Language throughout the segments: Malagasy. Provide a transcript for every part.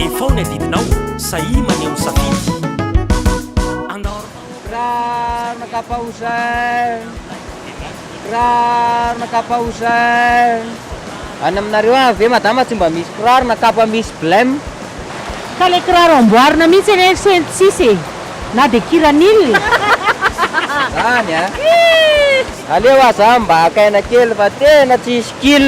Efaho ny adidinao, sahia maneho ny safidy. Raraka ampaozay, raraka ampaozay. Any aminareo any ve madama tsy mba misy kiraro na kapa misy blem? Ka le kiraro amboarina mihitsy anie ry sento tsisy e! Na de kiranil e! Zany a! Aleo aza mba haka aina kely fa tena tsisy kil.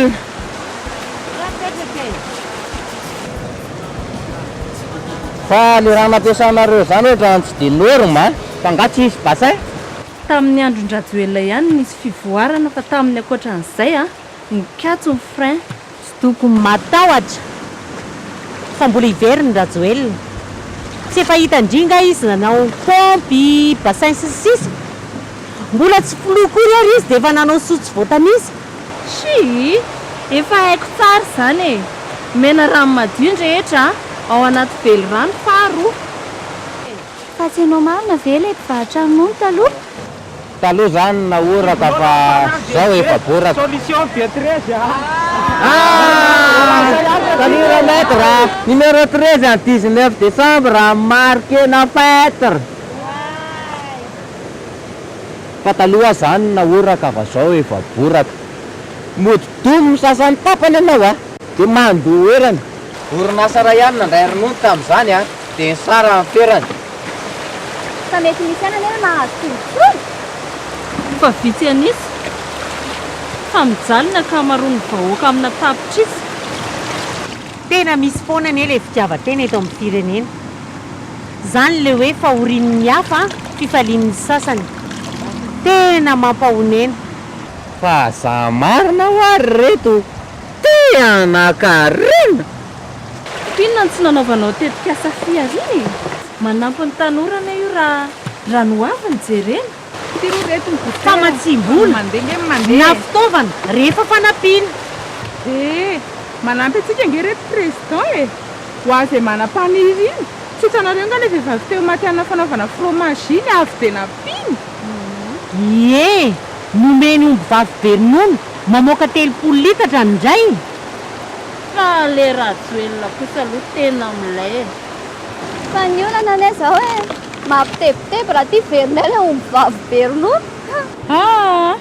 Fa le raha nampiasanareo zany ohatrany tsy de norme a! Fa nga tsy hisy bassin? Tamin'ny andron-dRajoelina ihany no nisy fivoarana fa tamin'ny ankoatran'izay a! Nikatso ny frein. Tsy tokony matahotra fa mbola hiverina Rajoelina. Tsy efa hita ndry nga izy nanao paompy, bassin sy ny sisa? Mbola tsy filoha akory ary izy dia efa nanao soa tsy voatanisa. Shii! Efa haiko tsara izany e! Omena rano madio ny rehetra ao anaty velirano faharoa. Fa tsy ianao marina ve ilay mpivarotra ronono taloha? Taloha izany nahoraka fa izao efa boraka. Salut le maitre, numéro treize an dix neuf decembre marqué na faitre. Fa taloha zany nahoraka fa zao efa boraka. Mody doum ny sasany tapany ianao a! Dia mandoherana. Orinasa iray ihany nandray ronono tamin'izany a! Dia ny sara amin'ny ferany. Fa mety misy ihany anie ny mahazo tombotsoa? Fa vitsy an'isa. Fa mijaly ny ankamaroan'ny vahoaka amina tapitrisa. Tena misy foana anie ilay fitiavan-tena eto amin'ny firenena. Izany ilay hoe fahorian'ny hafa an, fifalian'ny sasany. Tena mampahonena. Fa za marina wa ry reto te hanakarena? Inona no tsy nanaovanao tetikasa fihariana e? Manampy ny tanora anie io raha raha ny ho avy no jerena. famatsiam-bola na fitaovana rehefa fanampiana. Dia manampy antsika ange ireto Président e! Ho azy izay manam-paniriana. Tsy hitanareo ange ilay vehivavy teo maty hanina fanaovana fromage iny, avy dia nampiany. Ie! Nomeny ombivavy be ronono mamoaka telopolo litatra ny rainy. Fa le Rajoelina kosa aloha tena milay e! Fa ny olana anie zao e! Mampitebiteby raha ty verinay ilay ombivavy be ronono. Haa!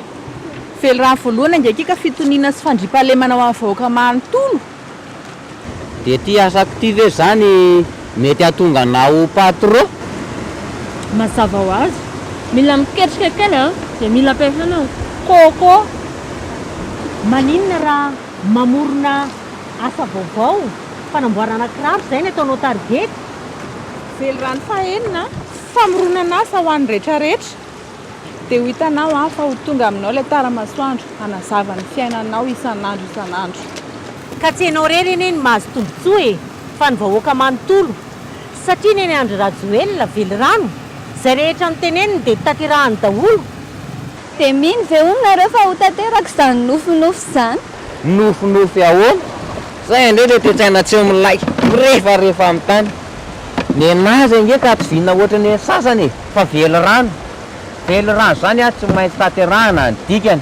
Velirano voalohany angeky ka fitoniana sy fandriampahalemana ho an'ny vahoaka manontolo. Dia ty asako ty ve zany mety hahatonga anao ho patron? Mazava ho azy, mila miketrika kely an! Dia mila ampiasaina coco. Maninona raha Mamorona asa vaovao, fanamboarana kiraro, izay ny ataonao target. Velirano fahenina, famoronan'asa ho an'ny retraretra, dia ho hitanao an fa ho tonga aminao ilay tara masoandro hanazava ny fiainanao isan'andro isan'andro. Ka tsy enao rery anie no mahazo tombotsoa e, fa ny vahoaka manontolo, satria neny Andry Rajoelina, Velirano, izay rehetra noteneniny dia notanterahany daholo. Dia mino ve hono nareo fa ho tanteraka izany nofinofy izany? Nofinofy ahoana? Zay indray ilay toe-tsaina tsy milay, mirefarefa amin'ny tany. Nenazy ange ka tsy vinona ohatran'ny an'ny sasany e! Fa velirano. Velirano izany an, tsy maintsy tanterahana ny dikany.